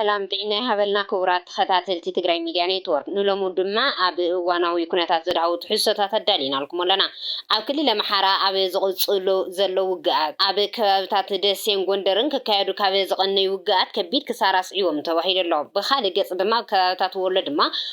ሰላም ጥዒና ይሃበልና ክቡራት ተኸታተልቲ ትግራይ ሚድያ ኔትወርክ፣ ንሎሚ ድማ ኣብ እዋናዊ ኩነታት ዘድሃቡ ትሕዝቶታት ኣዳሊናልኩም ኣለና። ኣብ ክልል ኣምሓራ ኣብ ዝቕፅሉ ዘሎ ውግኣት፣ ኣብ ከባብታት ደሴን ጎንደርን ክካየዱ ካብ ዝቐነዩ ውግኣት ከቢድ ክሳራ ኣስዒቦም ተባሂሉ ኣሎ። ብኻሊእ ገፅ ድማ ኣብ ከባብታት ወሎ ድማ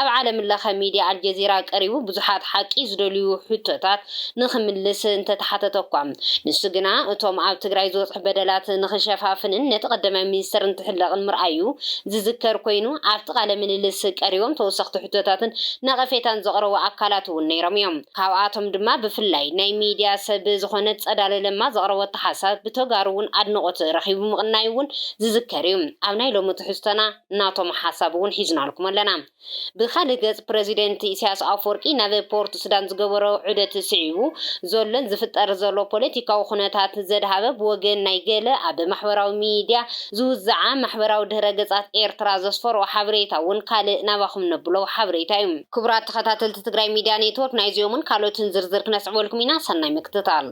ኣብ ዓለምለኸ ሚድያ ኣልጀዚራ ቀሪቡ ብዙሓት ሓቂ ዝደልዩ ሕቶታት ንኽምልስ እንተተሓተተ'ኳ፣ ንሱ ግና እቶም ኣብ ትግራይ ዝበፅሑ በደላት ንኽሸፋፍንን ነቲ ቀዳማይ ሚኒስትር እንትሕለቕን ምርኣዩ ዝዝከር ኮይኑ፣ ኣብቲ ቃለ ምልልስ ቀሪቦም ተወሰኽቲ ሕቶታትን ነቐፌታን ዘቕረቡ ኣካላት'ውን ነይሮም እዮም። ካብኣቶም ድማ ብፍላይ ናይ ሚድያ ሰብ ዝኾነት ፀዳለ ለማ ዘቕረበቶ ሓሳብ ብተጋሩ'ውን ኣድንቖት ረኺቡ ምቕናዩ'ውን ዝዝከር እዩ። ኣብ ናይ ሎሚ ትሕዝቶና። ናቶም ሓሳብ እውን ሒዝናልኩም ኣለና። ብኻልእ ገፅ ፕረዚደንት ኢሳያስ ኣፍወርቂ ናብ ፖርትሱዳን ዝገበሮ ዑደት ስዒቡ ዘሎን ዝፍጠር ዘሎ ፖለቲካዊ ኩነታት ዘድሃበ ብወገን ናይ ገለ ኣብ ማሕበራዊ ሚድያ ዝውዝዓ ማሕበራዊ ድህረ ገፃት ኤርትራ ዘስፈርኦ ሓበሬታ እውን ካልእ ናባኹም ነብሎ ሓበሬታ እዩ። ክቡራት ተኸታተልቲ ትግራይ ሚድያ ኔትወርክ ናይዚኦምን ካልኦትን ዝርዝር ክነስዕበልኩም ኢና። ሰናይ ምክትታል።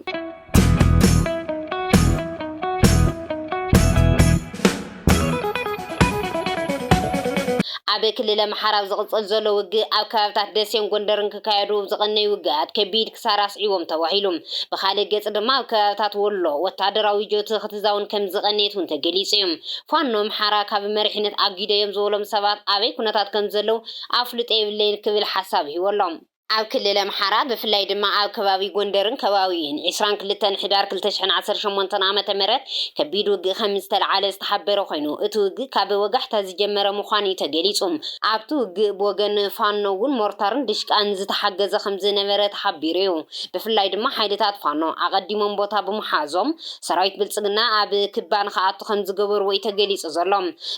ኣብ ክልል ኣምሓራ ኣብ ዝቕፅል ዘሎ ውግእ ኣብ ከባቢታት ደሴን ጎንደርን ክካየዱ ዝቐነዩ ውግኣት ከቢድ ክሳራ ኣስዒቦም ተባሂሉ። ብኻልእ ገፅ ድማ ኣብ ከባቢታት ወሎ ወታደራዊ ጆቲ ክትዛውን ከምዝቐነየት እውን ተገሊፁ እዩ። ፋኖ ኣምሓራ ካብ መሪሕነት ኣጊደዮም ዝበሎም ሰባት ኣበይ ኩነታት ከምዘለው ኣፍልጦ የብለይን ክብል ሓሳብ ሂቡ ኣሎ። ኣብ ክልል ኣምሓራ ብፍላይ ድማ ኣብ ከባቢ ጎንደርን ከባቢኡን ዕስራን ክልተን ሕዳር ክልተ ሽሕን ዓሰርተ ሸሞንተን ዓመተ ምህረት ከቢድ ውግእ ከምዝተልዓለ ዝተሓበረ ኮይኑ እቲ ውግእ ካብ ወጋሕታ ዝጀመረ ምዃኑ'ዩ ተገሊፁ። ኣብቲ ውግእ ብወገን ፋኖ እውን ሞርታርን ድሽቃን ዝተሓገዘ ከምዝነበረ ተሓቢሩ'ዩ። ብፍላይ ድማ ሓይልታት ፋኖ ኣቐዲሞም ቦታ ብምሓዞም ሰራዊት ብልፅግና ኣብ ክባ ንክኣቱ ከምዝገበሩዎ'ዩ ተገሊፁ ዘሎ።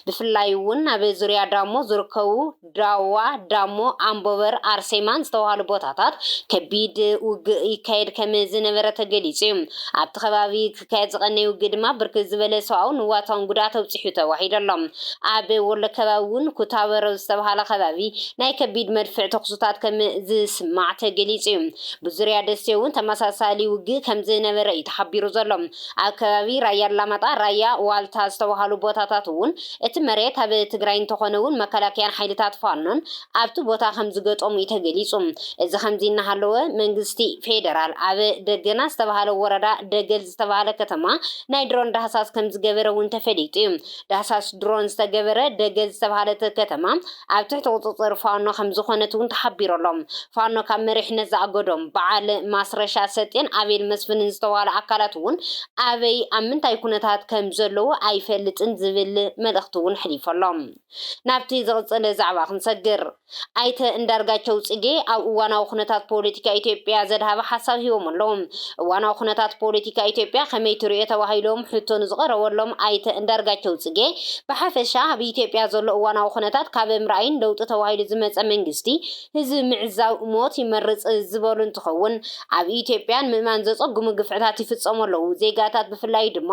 ብፍላይ እውን ኣብ ዙርያ ዳሞ ዝርከቡ ዳዋ፣ ዳሞ፣ ኣምቦበር፣ ኣርሴማን ዝተባህሉ ቦታታት ከቢድ ውግእ ይካየድ ከም ዝነበረ ተገሊጹ እዩ። ኣብቲ ከባቢ ክካየድ ዝቐነየ ውግእ ድማ ብርክት ዝበለ ሰብኣውን ንዋታውን ጉድኣት ኣብጺሑ ተባሂሉ ኣሎ። ኣብ ወሎ ከባቢ እውን ኩታበርኣብ ዝተባህለ ከባቢ ናይ ከቢድ መድፍዕ ተኹስታት ከም ዝስማዕ ተገሊጹ እዩ። ብዙርያ ደሴ እውን ተመሳሳሊ ውግእ ከም ዝነበረ እዩ ተሓቢሩ ዘሎ። ኣብ ከባቢ ራያ ኣላማጣ፣ ራያ ዋልታ ዝተባህሉ ቦታታት እውን እቲ መሬት ኣብ ትግራይ እንተኾነ እውን መከላከያን ሓይልታት ፋኖን ኣብቲ ቦታ ከምዝገጠሙ እዩ ተገሊፁ። እዚ ከምዚ እናሃለወ መንግስቲ ፌደራል ኣብ ደገና ዝተብሃለ ወረዳ ደገል ዝተብሃለ ከተማ ናይ ድሮን ዳህሳስ ከምዝገበረ እውን ተፈሊጡ እዩ። ዳህሳስ ድሮን ዝተገበረ ደገል ዝተብሃለት ከተማ ኣብ ትሕቲ ቁፅፅር ፋኖ ከምዝኾነት እውን ተሓቢሩ ኣሎ። ፋኖ ካብ መሪሕነት ዝኣገዶም በዓል ማስረሻ ሰጤን ኣቤል መስፍንን ዝተብሃሉ ኣካላት እውን ኣበይ ኣብ ምንታይ ኩነታት ከምዘለዉ ኣይፈልጥን ዝብል መልእኽቲ እውን ኣሕሊፉ ኣሎ። ናብቲ ዝቕፅል ዛዕባ ክንሰግር። ኣይተ እንዳርጋቸው ፅጌ ኣብ እዋናዊ ኩነታት ፖለቲካ ኢትዮጵያ ዘድሃበ ሓሳብ ሂቦም ኣለዉ። እዋናዊ ኩነታት ፖለቲካ ኢትዮጵያ ከመይ ትርእዮ ተባሂሎም ሕቶ ንዝቐረበሎም ኣይተ እንዳርጋቸው ፅጌ፣ ብሓፈሻ ኣብ ኢትዮጵያ ዘሎ እዋናዊ ኩነታት ካብ ምርኣይን ለውጢ ተባሂሉ ዝመፀ መንግስቲ ህዝቢ ምዕዛብ ሞት ይመርፅ ዝበሉ እንትኸውን፣ ኣብ ኢትዮጵያ ንምእማን ዘፀግሙ ግፍዕታት ይፍፀሙ ኣለው፣ ዜጋታት ብፍላይ ድማ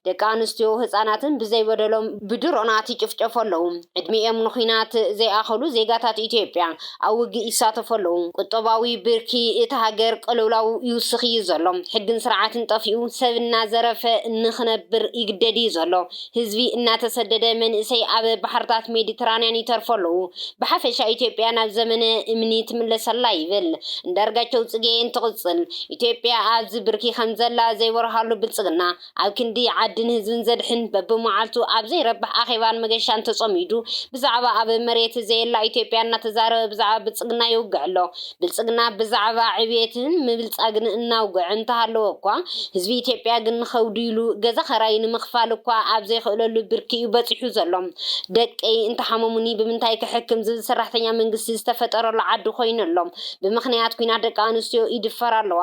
ደቂ ኣንስትዮ ህፃናትን ብዘይበደሎም ብድሮናት ይጭፍጨፉ ኣለው፣ ዕድሚኦም ንኹናት ዘይኣኸሉ ዜጋታት ኢትዮጵያ። ኣብ ውግእ ይሳተፉ ኣለዉ። ቁጠባዊ ብርኪ እታ ሃገር ቅልውላው ይውስኽ እዩ ዘሎ። ሕግን ስርዓትን ጠፊኡ ሰብ እናዘረፈ ንኽነብር ይግደድ እዩ ዘሎ። ህዝቢ እናተሰደደ መንእሰይ ኣብ ባሕርታት ሜዲትራንያን ይተርፉ ኣለዉ። ብሓፈሻ ኢትዮጵያ ናብ ዘመነ እምኒ ትምለስ ኣላ ይብል እንዳርጋቸው ጽጌ እንትቕጽል። ኢትዮጵያ ኣብዚ ብርኪ ከምዘላ ዘይበርሃሉ ብልጽግና፣ ኣብ ክንዲ ዓድን ህዝብን ዘድሕን በብመዓልቱ ኣብ ዘይረብሕ ኣኼባን መገሻን ተጸሚዱ ብዛዕባ ኣብ መሬት ዘየላ ኢትዮጵያ እናተዛረበ ብዛዕባ ብልጽግና ይውግዕ ኣሎ። ብልጽግና ብዛዕባ ዕብየትን ምብልጻግን እናውግዐ እንተሃለወ እኳ ህዝቢ ኢትዮጵያ ግን ንኸውድዩሉ ገዛ ኸራይ ንምኽፋል እኳ ኣብ ዘይኽእለሉ ብርኪ እዩ በጺሑ ዘሎ። ደቀይ እንተሓመሙኒ ብምንታይ ክሕክም ዝብል ሰራሕተኛ መንግስቲ ዝተፈጠረሉ ዓዲ ኮይኑ ኣሎ። ብምኽንያት ኲናት ደቂ ኣንስትዮ ይድፈራ ኣለዋ።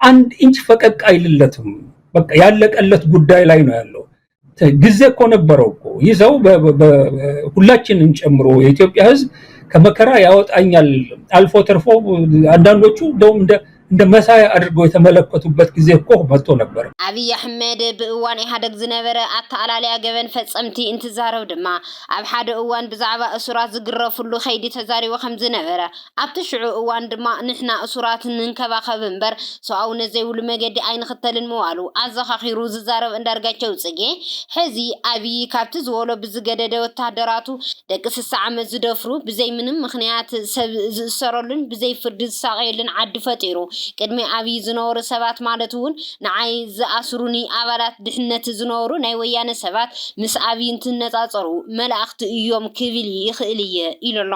አንድ ኢንች ፈቀቅ አይልለትም። በቃ ያለቀለት ጉዳይ ላይ ነው ያለው። ጊዜ እኮ ነበረው እኮ ይህ ሰው ሁላችንም ጨምሮ የኢትዮጵያ ሕዝብ ከመከራ ያወጣኛል አልፎ ተርፎ አንዳንዶቹ እንደውም እንደ እንደ መሳያ አድርገው የተመለከቱበት ጊዜ እኮ መጥቶ ነበር። ኣብይ ኣሕመድ ብእዋን ኢህኣደግ ዝነበረ ኣተኣላልያ ገበን ፈጸምቲ እንትዛረብ ድማ ኣብ ሓደ እዋን ብዛዕባ እሱራት ዝግረፍሉ ከይዲ ተዛሪቡ ከም ዝነበረ ኣብቲ ሽዑ እዋን ድማ ንሕና እሱራት ንንከባኸብ እምበር ሰብኣውነት ዘይብሉ መገዲ ኣይንኽተልን ምባሉ ኣዘኻኺሩ ዝዛረብ ኣንዳርጋቸው ጽጌ፣ ሕዚ ኣብዪ ካብቲ ዝበሎ ብዝገደደ ወተሃደራቱ ደቂ ስሳ ዓመት ዝደፍሩ ብዘይ ምንም ምኽንያት ሰብ ዝእሰረሉን ብዘይ ፍርዲ ዝሳቐየሉን ዓዲ ፈጢሩ ቅድሚ ኣብዪ ዝነበሩ ሰባት ማለት'ውን ንዓይ ዝኣስሩኒ ኣባላት ድሕነት ዝነበሩ ናይ ወያነ ሰባት ምስ ኣብይ እንትነፃፀሩ መላእኽቲ እዮም ክብል ይኽእል እየ ኢሉ ኣሎ።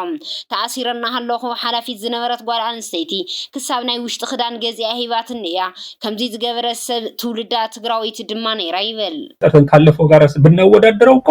ተኣሲረ እናሃለኹ ሓላፊት ዝነበረት ጓል ኣንስተይቲ ክሳብ ናይ ውሽጢ ክዳን ገዚኣ ሂባትኒ እያ። ከምዙይ ዝገበረት ሰብ ትውልዳ ትግራወይቲ ድማ ነይራ ይብል። ካለፈው ጋር ብናወዳድረው እኮ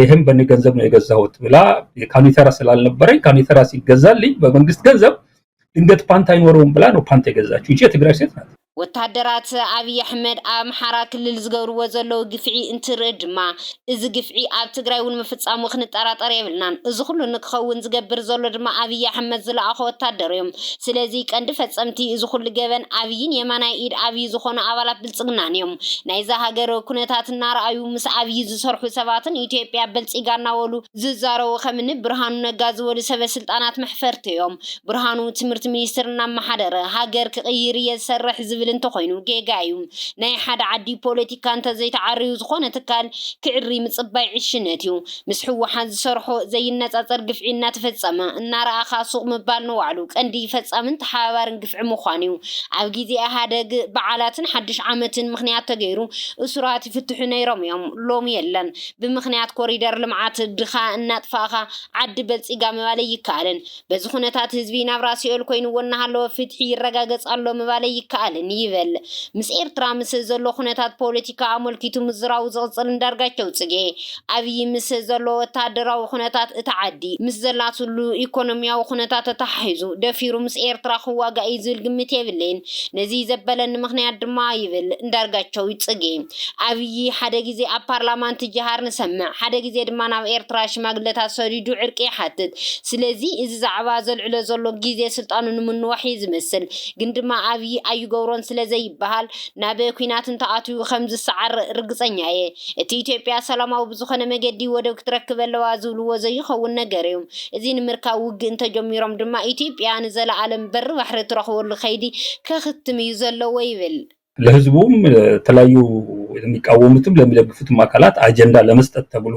ይህም በእኔ ገንዘብ ነው የገዛሁት ብላ ካኒተራ ስላልነበረኝ ካኒተራ ሲገዛልኝ በመንግስት ገንዘብ ድንገት ፓንት አይኖረውም ብላ ነው ፓንት የገዛችው። ይቺ የትግራይ ሴት ናት። ወታደራት ኣብዪ ኣሕመድ ኣብ ኣምሓራ ክልል ዝገብርዎ ዘለዉ ግፍዒ እንትርኢ ድማ እዚ ግፍዒ ኣብ ትግራይ እውን ምፍፃሙ ክንጠራጠር የብልናን። እዚ ኩሉ ንክኸውን ዝገብር ዘሎ ድማ ኣብዪ ኣሕመድ ዝለኣኾ ወታደር እዮም። ስለዚ ቀንዲ ፈፀምቲ እዚ ኩሉ ገበን ኣብዪን የማናይ ኢድ ኣብዪ ዝኾኑ ኣባላት ብልፅግናን እዮም። ናይዛ ሃገር ኩነታት እናረኣዩ ምስ ኣብይ ዝሰርሑ ሰባትን ኢትዮጵያ በልፂጋ እናበሉ ዝዛረቡ ከምኒ ብርሃኑ ነጋ ዝበሉ ሰበ ስልጣናት መሕፈርቲ እዮም። ብርሃኑ ትምህርቲ ሚኒስትር እናመሓደረ ሃገር ክቕይር እየ ዝሰርሕ ዝብል እንተኾይኑ ጌጋ እዩ። ናይ ሓደ ዓዲ ፖለቲካ እንተዘይተዓርዩ ዝኾነ ትካል ክዕሪ ምፅባይ ዕሽነት እዩ። ምስ ህወሓት ዝሰርሖ ዘይነፃፀር ግፍዒ እናተፈፀመ እናረኣኻ ሱቕ ምባል ንባዕሉ ቀንዲ ፈፃምን ተሓባባርን ግፍዒ ምዃኑ ዩ። ኣብ ጊዜ ኢህኣደግ በዓላትን ሓዱሽ ዓመትን ምኽንያት ተገይሩ እሱራት ይፍትሑ ነይሮም ዮም ሎሚ የለን። ብምኽንያት ኮሪደር ልምዓት ድኻ እናጥፋእኻ ዓዲ በልፂጋ ምባል ኣይከኣልን። በዚ ኩነታት ህዝቢ ናብራ ሲኦል ኮይንዎ እናሃለወ ፍትሒ ይረጋገጽ ኣሎ ምባለይ ይከኣልን ይበል። ምስ ኤርትራ ምስ ዘሎ ኩነታት ፖለቲካ ኣሞልኪቱ ምዝራቡ ዝቕጽል እንዳርጋቸው ጽጌ፣ ኣብይ ምስ ዘሎ ወተሃደራዊ ኩነታት እታ ዓዲ ምስ ዘላትሉ ኢኮኖሚያዊ ኩነታት ተተሓሒዙ ደፊሩ ምስ ኤርትራ ክዋጋእ እዩ ዝብል ግምት የብለይን። ነዚ ዘበለኒ ምክንያት ድማ ይብል እንዳርጋቸው ጽጌ፣ ኣብይ ሓደ ግዜ ኣብ ፓርላማ እንትጀሃር ንሰምዕ፣ ሓደ ግዜ ድማ ናብ ኤርትራ ሽማግለታት ሰዲዱ ዕርቂ ይሓትት፣ ስለዚ እዚ ዛዕባ ዘልዕሎ ዘሎ ግዜ ስልጣኑ ንምንዋሕ እዩ ዝመስል ግን ድማ ኣብይ ኣይገብሮን ስለ ዘይበሃል ናብ ኩናት እንተኣትዩ ከም ዝሰዓር ርግጸኛ እየ እቲ ኢትዮጵያ ሰላማዊ ብዝኾነ መገዲ ወደብ ክትረክብ ኣለዋ ዝብልዎ ዘይኸውን ነገር እዩ እዚ ንምርካብ ውግእ እንተጀሚሮም ድማ ኢትዮጵያ ንዘለኣለም በሪ ባሕሪ ትረኽበሉ ከይዲ ከኽትም እዩ ዘለዎ ይብል። ለህዝቡም ለተለያዩ ለሚቃወሙትም ለሚደግፉትም ኣካላት ኣጀንዳ ለመስጠት ተብሎ።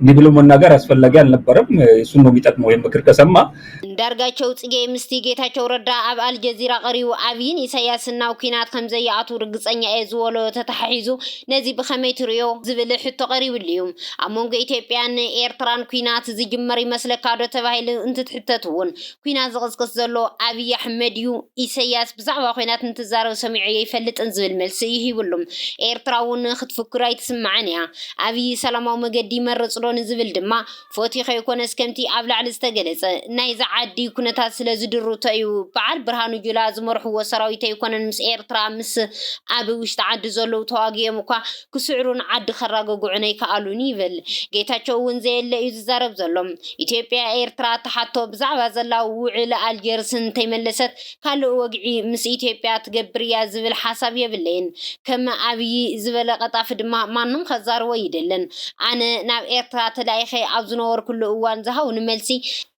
እንዲህ ብሎ መናገር አስፈላጊ አልነበረም። እሱን ነው የሚጠቅመው ይህን ምክር ከሰማ። እንዳርጋቸው ጽጌ ምስቲ ጌታቸው ረዳ ኣብ ኣልጀዚራ ቀሪቡ ኣብይን ኢሳያስን ናብ ኲናት ከምዘይኣትዉ ርግጸኛ እየ ዝበሎ ተተሓሒዙ ነዚ ብኸመይ ትርእዮ ዝብል ሕቶ ቀሪብሉ እዩ። ኣብ መንጎ ኢትዮጵያን ኤርትራን ኲናት ዝጅመር ይመስለካዶ ተባሂሉ እንትትሕተት'ውን ኲናት ዝቕስቅስ ዘሎ ኣብይ ኣሕመድ እዩ፣ ኢሳያስ ብዛዕባ ኲናት እንትዛረብ ሰሚዖ የይፈልጥን ዝብል መልሲ እዩ ሂብሉ። ኤርትራ እውን ክትፍክር ኣይትስማዕን እያ። ኣብዪ ሰላማዊ መገዲ ይመርጽ ዶ ንዝብል ድማ፣ ፈትዩ ከይኮነስ ከምቲ ኣብ ላዕሊ ዝተገለጸ፣ ናይዛ ዓዲ ኩነታት ስለ ዝድርቶ እዩ። በዓል ብርሃኑ ጁላ ዝመርሕዎ ሰራዊት ኣይኮነን ምስ ኤርትራ፣ ምስ ኣብ ውሽጢ ዓዲ ዘለዉ ተዋጊኦም እኳ ክስዕሩን ዓዲ ከራግግዑን ኣይከኣሉን ይብል። ጌታቸው እውን ዘየለ እዩ ዝዛረብ ዘሎ። ኢትዮጵያ ኤርትራ ትሓቶ ብዛዕባ ዘላ ውዕሊ ኣልጀርስ እንተይመለሰት ካልእ ወግዒ ምስ ኢትዮጵያ ትገብር እያ ዝብል ሓሳብ የብለይን ከም ኣብይ ዝበለ ቀጣፊ ድማ ማንም ከዛርቦ እይደልን ኣነ ናብ ኤርትራ ተላኢኸ ኣብ ዝነበርኩሉ እዋን ዝሃቡኒ መልሲ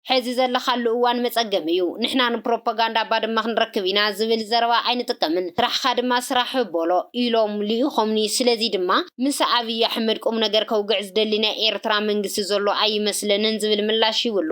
ሕዚ ዘለኻሉ እዋን መፀገሚ እዩ ንሕና ንፕሮፓጋንዳ ባድመ ክንረክብ ኢና ዝብል ዘረባ ኣይንጥቀምን ስራሕኻ ድማ ስራሕ በሎ ኢሎም ልኢኾምኒ ስለዚ ድማ ምስ ኣብይ ኣሕመድ ቁምነገር ከውግዕ ዝደሊ ናይ ኤርትራ መንግስቲ ዘሎ ኣይመስለንን ዝብል ምላሽ ሂብሉ።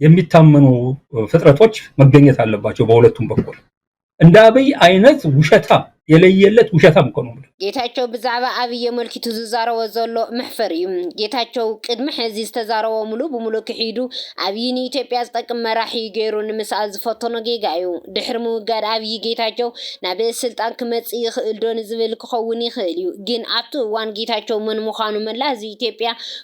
የሚታመኑ ፍጥረቶች መገኘት አለባቸው በሁለቱም በኩል። እንደ አብይ አይነት ውሸታም የለየለት ውሸታም እኮ ነው። ጌታቸው ብዛዕባ ኣብይ የመልኪቱ ዝዛረቦ ዘሎ መሕፈር እዩ። ጌታቸው ቅድሚ ሕዚ ዝተዛረቦ ሙሉ ብሙሉ ክሒዱ ኣብይ ንኢትዮጵያ ዝጠቅም መራሒ እዩ ገይሩ ንምስኣል ዝፈተኖ ጌጋ እዩ። ድሕሪ ምውጋድ ኣብይ ጌታቸው ናብ ስልጣን ክመጽእ ይኽእል ዶ ንዝብል ክኸውን ይኽእል እዩ። ግን ኣብቲ እዋን ጌታቸው መን ምዃኑ መላእ ህዝቢ ኢትዮጵያ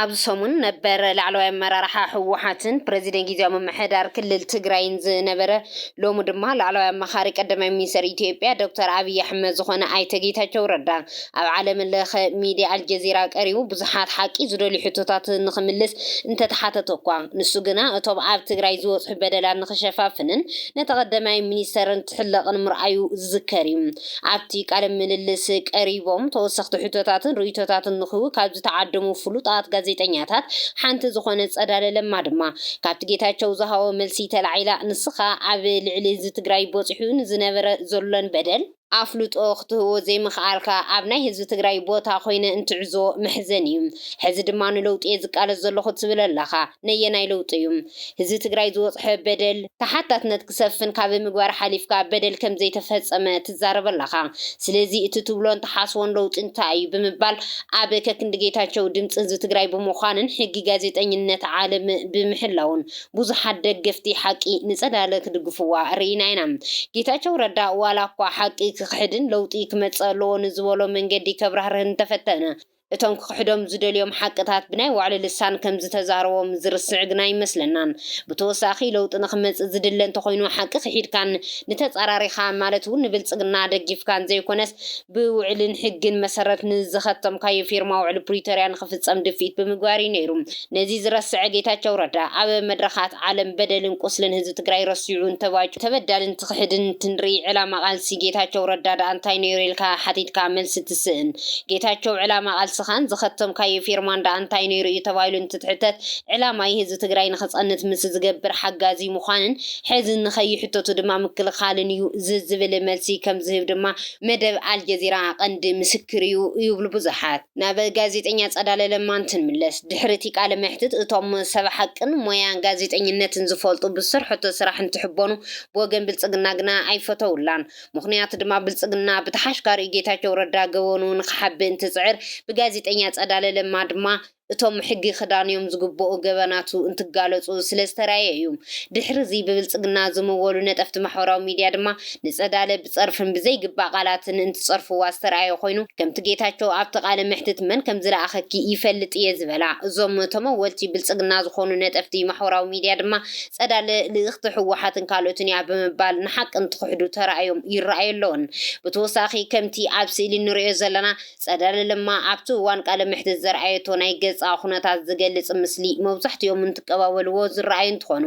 ኣብዚ ሰሙን ነበር ላዕለዋይ ኣመራርሓ ህወሓትን ፕረዚደንት ጊዜያዊ ምምሕዳር ክልል ትግራይን ዝነበረ ሎሚ ድማ ላዕለዋይ ኣማኻሪ ቀዳማይ ሚኒስተር ኢትዮጵያ ዶክተር ኣብይ ኣሕመድ ዝኾነ ኣይተ ጌታቸው ረዳ ኣብ ዓለም ለኸ ሚድያ ኣልጀዚራ ቀሪቡ ብዙሓት ሓቂ ዝደልዩ ሕቶታት ንኽምልስ እንተተሓተተ እኳ ንሱ ግና እቶም ኣብ ትግራይ ዝበፅሑ በደላት ንኽሸፋፍንን ነቲ ቀዳማይ ሚኒስተር እንትሕለቕን ምርኣዩ ዝዝከር እዩ። ኣብቲ ቃለ ምልልስ ቀሪቦም ተወሰኽቲ ሕቶታትን ርእይቶታትን ንክህቡ ካብ ዝተዓደሙ ፍሉጣት ጋዜጠኛታት ሓንቲ ዝኾነት ፀዳለ ለማ ድማ ካብቲ ጌታቸው ዝሃቦ መልሲ ተላዒላ ንስኻ ኣብ ልዕሊ ህዝቢ ትግራይ ቦፂሑ ንዝነበረ ዘሎን በደል ኣፍልጦ ክትህቦ ዘይምኽኣልካ ኣብ ናይ ህዝቢ ትግራይ ቦታ ኮይነ እንትዕዞ መሕዘኒ እዩ። ሕዚ ድማ ንለውጢ እየ ዝቃለስ ዘለኹ ትብል ኣለኻ። ነየናይ ለውጢ እዩ ህዝቢ ትግራይ ዝወፅሐ በደል ተሓታትነት ክሰፍን ካብ ምግባር ሓሊፍካ በደል ከምዘይተፈፀመ ትዛረብ ኣለኻ ስለዚ እቲ ትብሎን ትሓስቦን ለውጢ እንታይ እዩ ብምባል ኣብ ከክንዲ ጌታቸው ድምፂ ህዝቢ ትግራይ ብምዃንን ሕጊ ጋዜጠኝነት ዓለም ብምሕላውን ብዙሓት ደገፍቲ ሓቂ ንፀዳለ ክድግፍዋ ርኢና ኢና ጌታቸው ረዳ ዋላ እኳ ሓቂ ክኽሕድን ለውጢ ክመፅእ ኣለዎ ንዝበሎ መንገዲ ከብራህርህ እንተፈተነ እቶም ክኽሕዶም ዝደልዮም ሓቅታት ብናይ ባዕሉ ልሳን ከም ዝተዛረቦም ዝርስዕ ግና ኣይመስለናን። ብተወሳኺ ለውጢ ንኽመጽእ ዝድለ እንተኾይኑ ሓቂ ክሒድካን ንተጻራሪኻ ማለት'ውን ንብልጽግና ደጊፍካን ዘይኮነስ ብውዕልን ሕግን መሰረት ንዝኸተምካዮ ፊርማ ውዕሊ ፕሪቶርያ ንኽፍጸም ድፍኢት ብምግባር እዩ ነይሩ። ነዚ ዝረሰዐ ጌታቸው ረዳ ኣብ መድረኻት ዓለም በደልን ቁስልን ህዝቢ ትግራይ ረሲዑ እንተባጩ ተበዳሊ እንትኽሕድን እንትንርኢ ዕላማ ቃልሲ ጌታቸው ረዳ ድኣ እንታይ ነይሩ ኢልካ ሓቲትካ መልሲ ትስእን ጌታቸው ዕላማ ቃልስኻን ዝኸተምካዮ ፊርማን ድኣ እንታይ ነይሩ እዩ ተባሂሉ እንትትሕተት ዕላማይ ህዝቢ ትግራይ ንኽፀንት ምስ ዝገብር ሓጋዚ ምዃንን ሕዚ ንኸይሕተቱ ድማ ምክልኻልን እዩ ዝብል መልሲ ከምዝህብ ድማ መደብ ኣልጀዚራ ቀንዲ ምስክር እዩ ይብሉ ብዙሓት። ናብ ጋዜጠኛ ጸዳለ ለማ እንትንምለስ፣ ድሕሪ እቲ ቃለ መሕትት እቶም ሰብ ሓቅን ሞያ ጋዜጠኝነትን ዝፈልጡ ብዝሰርሐቶ ስራሕ እንትሕበኑ ብወገን ብልጽግና ግና ኣይፈተውላን። ምኽንያቱ ድማ ብልጽግና ብተሓሽካሪኡ ጌታቸው ረዳ ገበኑ ንኽሓብእ እንትጽዕር ብጋዜጠኛ ጸዳለ ለማ ድማ እቶም ሕጊ ክዳንዮም ዝግበኡ ገበናቱ እንትጋለጹ ስለዝተራእየ እዩ። ድሕሪ እዚ ብብልጽግና ዝምወሉ ነጠፍቲ ማሕበራዊ ሚድያ ድማ ንጸዳለ ብጸርፍን ብዘይግባእ ቃላትን እንትጸርፍዋ ዝተርኣየ ኮይኑ ከምቲ ጌታቸው ኣብቲ ቃለ መሕትት መን ከምዝለኣኸኪ ይፈልጥ እየ ዝበላ እዞም ተመወልቲ ብልጽግና ዝኾኑ ነጠፍቲ ማሕወራዊ ሚድያ ድማ ጸዳለ ልእኽቲ ህወሓትን ካልኦትን እያ ብምባል ንሓቂ እንትኽሕዱ ተራእዮም ይረኣዩ ኣለዉን ብተወሳኺ ከምቲ ኣብ ስእሊ እንርእዮ ዘለና ፀዳል ለማ ኣብቲ እዋን ቃለ መሕትት ዘርኣየቶ ናይ ገፃ ኩነታት ዝገልፅ ምስሊ መብዛሕቲኦም እንትቀባበልዎ ዝረኣዩ እንትኾኑ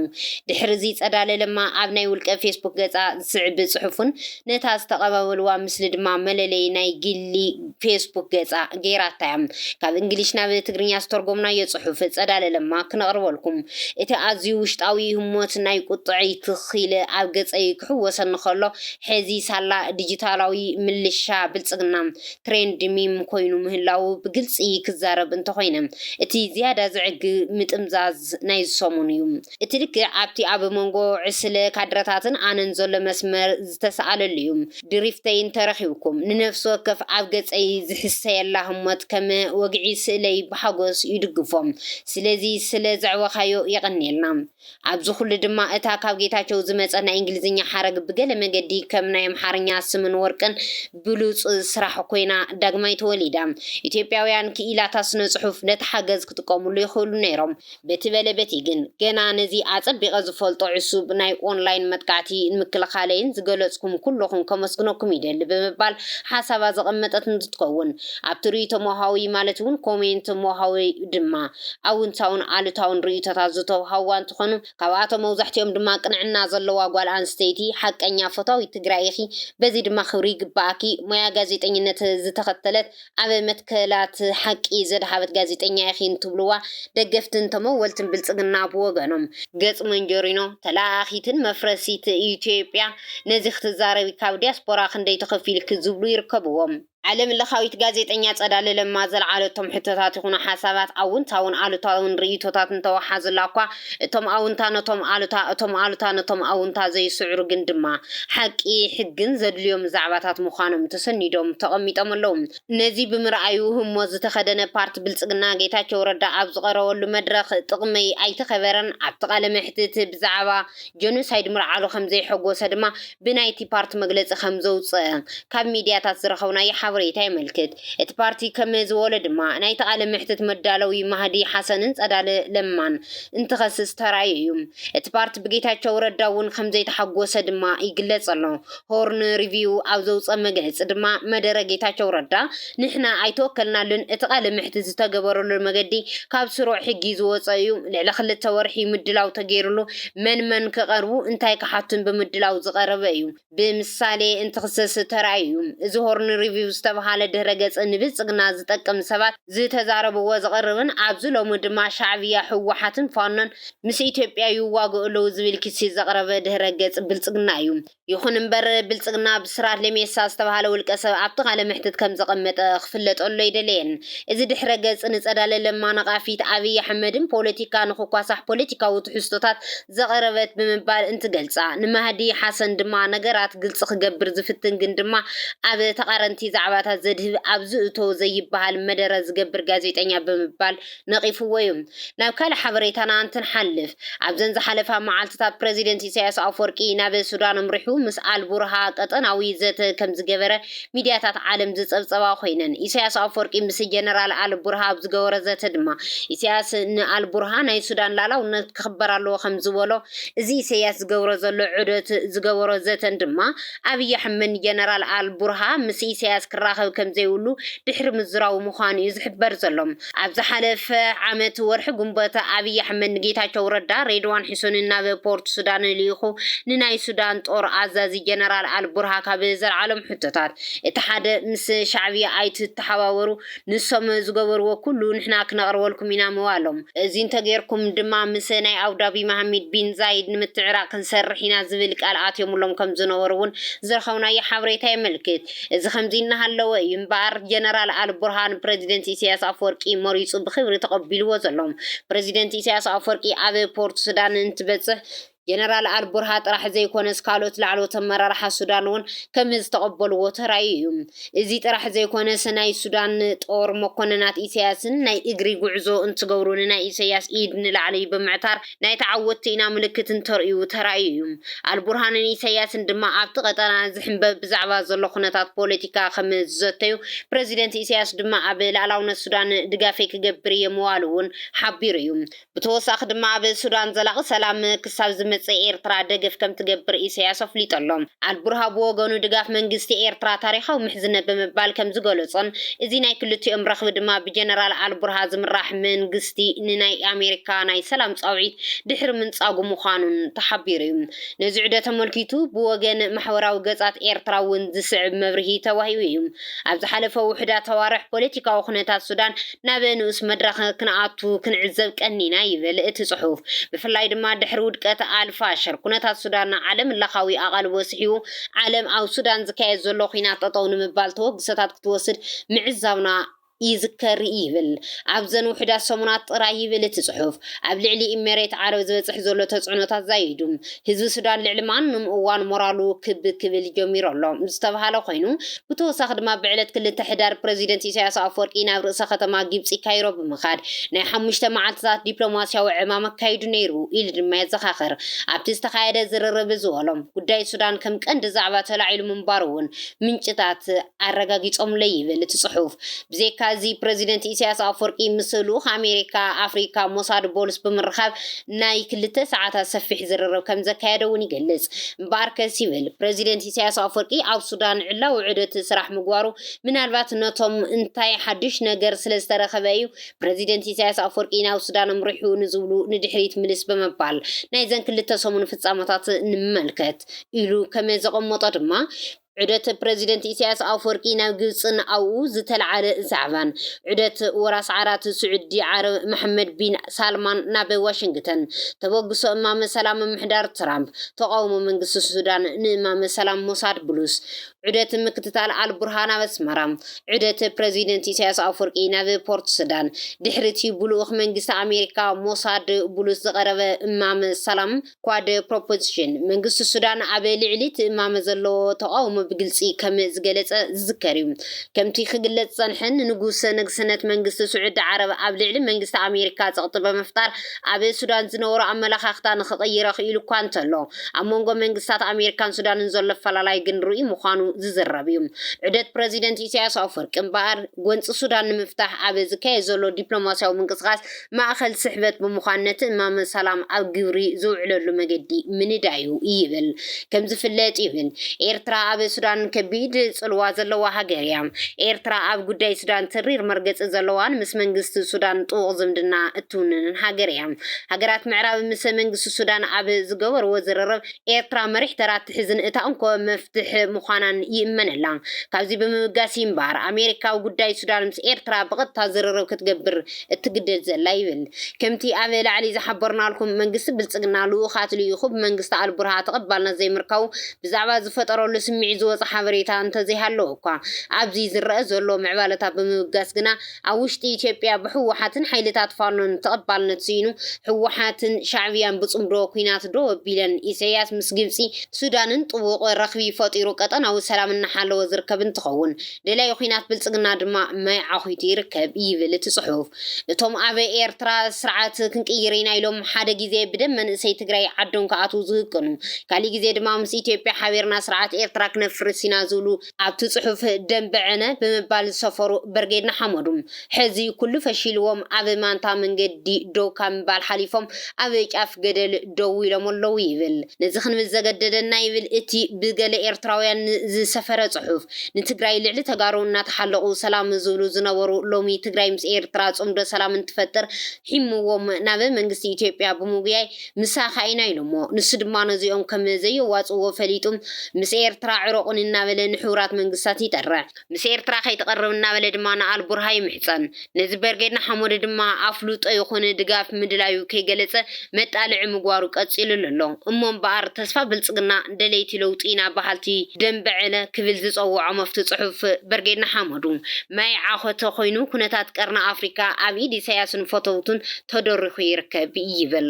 ድሕሪ እዚ ፀዳለ ለማ ኣብ ናይ ውልቀ ፌስቡክ ገፃ ዝስዕብ ፅሑፍን ነታ ዝተቀባበልዋ ምስሊ ድማ መለለዪ ናይ ግሊ ፌስቡክ ገፃ ገይራታ እያ ካብ እንግሊሽ ናብ ትግርኛ ዝተርጎምናዮ ፅሑፍ ፀዳለ ለማ ክነቅርበልኩም እቲ ኣዝዩ ውሽጣዊ ህሞት ናይ ቁጥዐይ ትኽ ኢለ ኣብ ገፀይ ክሕወሰኒ ከሎ ሕዚ ሳላ ዲጂታላዊ ምልሻ ብልጽግና ትሬንድ ሚም ኮይኑ ምህላዉ ብግልጺ ክዛረብ እንተኾይነ፣ እቲ ዝያዳ ዘዕግ ምጥምዛዝ ናይዚ ሰሙን እዩ። እቲ ልክዕ ኣብቲ ኣብ መንጎ ዕስለ ካድረታትን ኣነን ዘሎ መስመር ዝተሰኣለሉ እዩ። ድሪፍተይ እንተረኺብኩም፣ ንነፍሲ ወከፍ ኣብ ገጸይ ዝሕሰየላ ህሞት ከም ወግዒ ስእለይ ብሓጎስ ይድግፎ። ስለዚ ስለ ዘዕበኻዮ የቐንየልና። ኣብዚ ኩሉ ድማ እታ ካብ ጌታቸው ዝመጸ ናይ እንግሊዝኛ ሓረግ ብገለ መገዲ ከም ናይ ኣምሓርኛ ስምን ወርቅን ብሉጽ ስራሕ ኮይና ዳግማይ ተወሊዳ። ኢትዮጵያውያን ክኢላታት ስነ-ጽሑፍ ነቲ ሓገዝ ክጥቀምሉ ይኽእሉ ነይሮም። በቲ በለ በቲ ግን ገና ነዚ ኣጸቢቐ ዝፈልጦ ዕሱብ ናይ ኦንላይን መጥቃዕቲ ንምክልኻለይን ዝገለጽኩም ኩሎኹም ከመስግነኩም ይደሊ ብምባል ሓሳባ ዘቐመጠት እንትትከውን ኣብቲ ርኢቶ ሞሃዊ ማለት እውን ኮሜንት ሞሃዊ ድማ ኣውንታውን ኣሉታውን ርእይቶታት ዝተውሃውዋ እንትኾኑ ካብኣቶም መውዛሕቲኦም ድማ ቅንዕና ዘለዋ ጓል ኣንስተይቲ፣ ሓቀኛ ፈታዊት ትግራይ ኢኺ በዚ ድማ ክብሪ ይግበኣኪ፣ ሞያ ጋዜጠኝነት ዝተኸተለት ኣብ መትከላት ሓቂ ዘድሃበት ጋዜጠኛ ኢኺ እንትብሉዋ ደገፍትን ተመወልትን ብልፅግና ብወገኖም። ገፅ መንጀሪኖ፣ ተለኣኣኺትን መፍረሲት ኢትዮጵያ፣ ነዚ ክትዛረቢ ካብ ዲያስፖራ ክንደይ ተኸፊሉኪ ዝብሉ ይርከብዎም። ዓለምለኻዊት ጋዜጠኛ ጸዳለ ለማ ዘልዓለቶም ሕቶታት ይኹኑ ሓሳባት ኣውንታውን ኣሉታውን ርእይቶታት እንተወሓዙላ'ኳ እቶም ኣውንታ ነቶም ኣሉታ እቶም ኣሉታ ነቶም ኣውንታ ዘይስዕሩ ግን ድማ ሓቂ ሕግን ዘድልዮም ዛዕባታት ምዃኖም ተሰኒዶም ተቐሚጦም ኣለዉ። ነዚ ብምርኣዩ ህሞት ዝተኸደነ ፓርቲ ብልጽግና ጌታቸው ረዳ ኣብ ዝቐረበሉ መድረኽ ጥቕመይ ኣይተኸበረን ኣብቲ ቃለ መሕትት ብዛዕባ ጀኖሳይድ ምልዓሉ ከምዘይሐጎሰ ድማ ብናይቲ ፓርቲ መግለጺ ከም ዘውጽኣ ካብ ሚድያታት ዝረኸብናዮ ሓበሬታ የመልክት። እቲ ፓርቲ ከም ዝበሎ ድማ፣ ናይቲ ቃለ መሕትት መዳለዊ ማህዲ ሓሰንን ጸዳለ ለማን እንትኸስስ ተራእዩ እዩ። እቲ ፓርቲ ብጌታቸው ረዳ እውን ከም ዘይተሓጎሰ ድማ ይግለጽ ኣሎ። ሆርን ሪቪው ኣብ ዘውጽኦ መግለጺ ድማ፣ መደረ ጌታቸው ረዳ፣ ንሕና ኣይተወከልናሉን፣ እቲ ቃለ መሕትት ዝተገበረሉ መገዲ ካብ ስሩዕ ሕጊ ዝወፀ እዩ፣ ልዕሊ ክልተ ወርሒ ምድላው ተገይሩሉ፣ መን መን ክቐርቡ እንታይ ክሓቱን ብምድላው ዝቐረበ እዩ፣ ብምሳሌ እንትኽሰስ ተራእዩ እዩ፣ እዚ ሆርን ሪቪው ዝተብሃለ ድህረ ገፅ ንብልፅግና ዝጠቅም ሰባት ዝተዛረብዎ ዝቕርብን ኣብዚ ሎሚ ድማ ሻዕብያ ህወሓትን ፋኖን ምስ ኢትዮጵያ ይዋግኡ ኣለው ዝብል ክሲ ዘቕረበ ድህረ ገፅ ብልፅግና እዩ፣ ይኹን እምበር ብልጽግና ብስራት ለሜሳ ዝተባህለ ውልቀ ሰብ ኣብቲ ቃለ መሕትት ከም ዘቐመጠ ክፍለጠሉ ኣይደለየን። እዚ ድሕረ ገጽ ንጸዳለ ለማ ነቓፊት ኣብይ ኣሕመድን ፖለቲካ ንኽኳሳሕ ፖለቲካዊ ትሕዝቶታት ዘቕረበት ብምባል እንትገልጻ ንማህዲ ሓሰን ድማ ነገራት ግልጺ ክገብር ዝፍትን ግን ድማ ኣብ ተቓረንቲ ዛዕባታት ዘድህብ ኣብ ዝእቶ ዘይበሃል መደረ ዝገብር ጋዜጠኛ ብምባል ነቒፍዎ እዩ። ናብ ካልእ ሓበሬታና እንትንሓልፍ፣ ኣብዘን ዝሓለፋ መዓልትታት ፕረዚደንት ኢሳይያስ ኣፍወርቂ ናብ ሱዳን ኣምሪሑ ምስ ኣልቡርሃ ቀጠናዊ ዘተ ከምዝገበረ ሚድያታት ዓለም ዝጸብጸባ ኮይነን፣ ኢሳይያስ ኣፍወርቂ ምስ ጀነራል ኣልቡርሃ ኣብ ዝገበሮ ዘተ ድማ ኢሳይያስ ንኣልቡርሃ ናይ ሱዳን ላእላውነት ክኽበር ኣለዎ ከምዝበሎ፣ እዚ ኢሳይያስ ዝገብሮ ዘሎ ዑደት ዝገበሮ ዘተን ድማ ኣብይ ኣሕመድ ንጀነራል ኣልቡርሃ ምስ ኢሳይያስ ክራኸብ ከምዘይብሉ ድሕሪ ምዝራቡ ምዃኑ እዩ ዝሕበር ዘሎ። ኣብ ዝሓለፈ ዓመት ወርሒ ግንቦት ኣብይ ኣሕመድ ንጌታቸው ረዳ ሬድዋን ሕሶንን ናብ ፖርት ሱዳን ልኢኹ ንናይ ሱዳን ጦር ኣዛዚ ጀነራል ኣል ቡርሃ ካብ ዘልዓሎም ሕቶታት እቲ ሓደ ምስ ሻዕብያ ኣይትተሓባበሩ ንሶም ዝገበርዎ ኩሉ ንሕና ክነቕርበልኩም ኢና ምባሎም እዚ እንተጌርኩም ድማ ምስ ናይ ኣቡዳቢ መሃሚድ ቢን ዛይድ ንምትዕራቕ ክንሰርሕ ኢና ዝብል ቃል ኣትዮምሎም ከምዝነበሩ እውን ዝረኸብናዮ ሓበሬታ የመልክት። እዚ ከምዚ እናሃለወ እዩ እምበኣር ጀነራል ኣልቡርሃን ፕረዚደንት ኢሳያስ ኣፍወርቂ መሪጹ ብኽብሪ ተቐቢልዎ ዘሎ። ፕረዚደንት ኢሳያስ ኣፍወርቂ ኣብ ፖርት ሱዳን እንትበጽሕ ጀነራል ኣልቡርሃ ጥራሕ ዘይኮነስ ካልኦት ላዕለዎት ኣመራርሓ ሱዳን እውን ከምዝተቐበልዎ ተራእዩ እዩ። እዚ ጥራሕ ዘይኮነስ ናይ ሱዳን ጦር መኮነናት ኢሳያስን ናይ እግሪ ጉዕዞ እንትገብሩ ንናይ ኢሳያስ ኢድ ንላዕሊ ብምዕታር ናይ ተዓወትቲ ኢና ምልክት እንተርእዩ ተራእዩ እዩ። ኣልቡርሃንን ኢሰያስን ድማ ኣብቲ ቀጠና ዝሕምበብ ብዛዕባ ዘሎ ኩነታት ፖለቲካ ከም ዝዘተዩ፣ ፕረዚደንት ኢሰያስ ድማ ኣብ ልኣላውነት ሱዳን ድጋፈይ ክገብር እየ ምባሉ'ውን ሓቢሩ እዩ። ብተወሳኺ ድማ ኣብ ሱዳን ዘላቒ ሰላም ክሳብ ዝመጽእ ኤርትራ ደገፍ ከም ትገብር ኢሰያስ ኣፍሊጡ ኣሎ። ኣልቡርሃ ብወገኑ ድጋፍ መንግስቲ ኤርትራ ታሪኻዊ ምሕዝነት ብምባል ከም ዝገለጾን እዚ ናይ ክልቲኦም ረኽቢ ድማ ብጀነራል ኣልቡርሃ ዝምራሕ መንግስቲ መንግስቲ ንናይ ኣሜሪካ ናይ ሰላም ጻውዒት ድሕሪ ምንጻጉ ምዃኑን ተሓቢሩ'ዩ። ነዚ ዑደት ኣመልኪቱ ብወገን ማሕበራዊ ገጻት ኤርትራ እውን ዝስዕብ መብርሂ ተዋሂቡ'ዩ። ኣብ ዝሓለፈ ውሑዳት ኣዋርሕ ፖለቲካዊ ኩነታት ሱዳን ናብ ንኡስ መድረኽ ክንኣቱ ክንዕዘብ ቀኒና ይብል እቲ ጽሑፍ። ብፍላይ ድማ ድሕሪ ውድቀት ኣልፋሽር ኩነታት ሱዳን ዓለምለኻዊ ኣቓልቦ ስሒቡ ዓለም ኣብ ሱዳን ዝካየድ ዘሎ ኲናት ጠጠው ንምባል ተበግሶታት ክትወስድ ምዕዛብና ይዝከር ይብል ኣብዘን ውሑዳት ሰሙናት ጥራይ ይብል እቲ ጽሑፍ ኣብ ልዕሊ ኢሜሬት ዓረብ ዝበጽሕ ዘሎ ተጽዕኖታት ዛይዱ ህዝቢ ሱዳን ልዕሊ ማንም እዋን ሞራሉ ክብ ክብል ጀሚሩ ኣሎ ዝተብሃለ ኮይኑ ብተወሳኺ ድማ ብዕለት ክልተ ሕዳር ፕረዚደንት ኢሳያስ ኣፍወርቂ ናብ ርእሰ ከተማ ጊብጺ ካይሮ ብምኻድ ናይ ሓሙሽተ መዓልትታት ዲፕሎማስያዊ ዕማም ኣካይዱ ነይሩ ኢሉ ድማ የዘኻኽር ኣብቲ ዝተኻየደ ዝርርብ ዝበሎ ጉዳይ ሱዳን ከም ቀንዲ ዛዕባ ተላዒሉ ምንባሩ እውን ምንጭታት ኣረጋጊጾምለይ ይብል እቲ ጽሑፍ። ብዘይካ እዚ ፕረዚደንት ኢሳያስ ኣፍወርቂ ምስ ልኡኽ ኣሜሪካ ኣፍሪካ ሞሳድ ቦልስ ብምርኻብ ናይ ክልተ ሰዓታት ሰፊሕ ዝርርብ ከምዘካየደ እውን ይገልጽ። እምበኣርከስ ይብል ፕረዚደንት ኢሳያስ ኣፍወርቂ ኣብ ሱዳን ዕላዊ ዑደት ስራሕ ምግባሩ ምናልባት ነቶም እንታይ ሓዱሽ ነገር ስለዝተረኸበ እዩ ፕረዚደንት ኢሳያስ ኣፍወርቂ ናብ ሱዳን ኣምሪሑ ንዝብሉ ንድሕሪት ምልስ ብምባል ናይዘን ክልተ ሰሙን ፍጻመታት ንመልከት። ኢሉ ከመዘቐመጦ ድማ፣ ዑደት ፕረዚደንት ኢሳያስ ኣፈወርቂ ናብ ግብጽን ኣብኡ ዝተልዓለ ዛዕባን፣ ዑደት ወራስ ዓራት ስዑዲ ዓረብ መሓመድ ቢን ሳልማን ናብ ዋሽንግተን፣ ተበግሶ እማመ ሰላም ምምሕዳር ትራምፕ፣ ተቓውሞ መንግስቲ ሱዳን ንእማመ ሰላም ሞሳድ ብሉስ፣ ዑደት ምክትታል ኣልቡርሃን ኣብ ኣስመራ፣ ዑደት ፕረዚደንት ኢሳያስ ኣፈወርቂ ናብ ፖርትሱዳን፣ ድሕሪ'ቲ ብልኡኽ መንግስቲ ኣሜሪካ ሞሳድ ብሉስ ዝቐረበ እማመ ሰላም፣ Quad Proposition፣ መንግስቲ ሱዳን ኣብ ልዕሊ'ቲ እማመ ዘለዎ ተቓውሞ ብግልጺ ከም ዝገለጸ ዝዝከር'ዩ። ከምቲ ክግለጽ ዝጸንሐ፣ ንንጉሰ ነግስነት መንግስቲ ስዑዲ ዓረብ ኣብ ልዕሊ መንግስቲ ኣሜሪካ ጸቕጢ ብምፍጣር ኣብ ሱዳን ዝነበሮ ኣመለኻኽታ ንኽቕይር ኣኽኢሉ'ኳ እንተሎ፣ ኣብ መንጎ መንግስታት ኣሜሪካን ሱዳንን ዘሎ ኣፈላላይ ግን ርኡይ ምዃኑ ዝዝረብ'ዩ። ዑደት ፕረዚደንት ኢሳይያስ ኣፍወርቂ እምበኣር፣ ጎንጺ ሱዳን ንምፍታሕ ኣብ ዝካየድ ዘሎ ዲፕሎማስያዊ ምንቅስቓስ፣ ማእኸል ስሕበት ብምዃን ነቲ እማመ ሰላም ኣብ ግብሪ ዝውዕለሉ መገዲ ምንዳዩ ይብል። ከም ዝፍለጥ ይብል ኤርትራ ኣብ ሱዳን ከቢድ ጽልዋ ዘለዋ ሃገር እያ። ኤርትራ ኣብ ጉዳይ ሱዳን ተሪር መርገጺ ዘለዋን ምስ መንግስቲ ሱዳን ጥቡቕ ዝምድና እትውንንን ሃገር እያ። ሃገራት ምዕራብ ምስ መንግስቲ ሱዳን ኣብ ዝገበርዎ ዝርርብ ኤርትራ መሪሕ ተራ እትሕዝን እታ እንኮ መፍትሕ ምዃናን ይእመነላ። ካብዚ ብምብጋስ እዩ'ምበኣር ኣሜሪካ ኣብ ጉዳይ ሱዳን ምስ ኤርትራ ብቐጥታ ዝርርብ ክትገብር እትግደድ ዘላ ይብል። ከምቲ ኣብ ላዕሊ ዝሓበርናልኩም መንግስቲ ብልጽግና ልኡኻት ልኢኹ ብመንግስቲ ኣልቡርሃ ተቐባልነት ዘይምርካቡ ብዛዕባ ዝፈጠረሉ ስምዒት ዝወጸ ሓበሬታ እንተዘይሃለወኳ ኣብዚ ዝረኣ ዘሎ ምዕባለታት ብምብጋስ ግና ኣብ ውሽጢ ኢትዮጵያ ብህወሓትን ሓይልታት ፋኖን ተቐባልነት ስኢኑ ህወሓትን ሻዕብያን ብጽምዶ ኲናት ደው ኣቢለን ኢሳይያስ ምስ ግብጺ ሱዳንን ጥቡቕ ረኽቢ ፈጢሩ ቀጠናዊ ሰላም እናሓለወ ዝርከብ እንትኸውን ደላዪ ኲናት ብልጽግና ድማ ማይ ዓዂቱ ይርከብ ይብል እቲ ጽሑፍ። እቶም ኣብ ኤርትራ ስርዓት ክንቅይር ኢና ኢሎም ሓደ ግዜ ብደም መንእሰይ ትግራይ ዓዶም ክኣትዉ ዝህቅኑ፣ ካሊእ ግዜ ድማ ምስ ኢትዮጵያ ሓቢርና ስርዓት ኤርትራ ክነፍርስ ኢና ዝብሉ፣ ኣብቲ ጽሑፍ ደምበ ዕነ ብምባል ዝሰፈሩ በርጌድ ንሓመዱ፣ ሕዚ ኩሉ ፈሺልዎም ኣብ ማንታ መንገዲ ደው ካብ ምባል ሓሊፎም ኣብ ጫፍ ገደል ደው ኢሎም ኣለዉ ይብል። ነዚ ክንብል ዘገደደና ይብል እቲ ብገለ ኤርትራውያን ዝሰፈረ ጽሑፍ፣ ንትግራይ ልዕሊ ተጋሩ እናተሓለቑ ሰላም ዝብሉ ዝነበሩ ሎሚ ትግራይ ምስ ኤርትራ ጽምዶ ሰላም እንትፈጥር ሒምዎም ናብ መንግስቲ ኢትዮጵያ ብምጉያይ ምሳኻ ኢና ኢሎሞ። ንሱ ድማ ነዚኦም ከም ዘየዋጽእዎ ፈሊጡ ምስ ኤርትራ ዕረቑኒ እናበለ ንሕቡራት መንግስታት ይጠርዕ። ምስ ኤርትራ ከይትቐርብ እናበለ ድማ ንኣልቡርሃ ይምሕጸን። ነዚ በርጌድ ንሓመዱ ድማ ኣፍልጦ ይኹን ድጋፍ ምድላዩ ከይገለጸ መጣልዒ ምግባሩ ቀጺሉሉ ኣሎ። እሞ እምበኣር ተስፋ ብልጽግና ደለይቲ ለውጢ ኢና በሃልቲ ደምበ ዕለ ክብል ዝጸውዖ መፍቱ ጽሑፍ በርጌድ ንሓመዱ ማይ ዓኾተ ኮይኑ ኩነታት ቀርኒ ኣፍሪካ ኣብ ኢድ ኢሳያስን ፈተውቱን ተደሪኹ ይርከብ ይብል።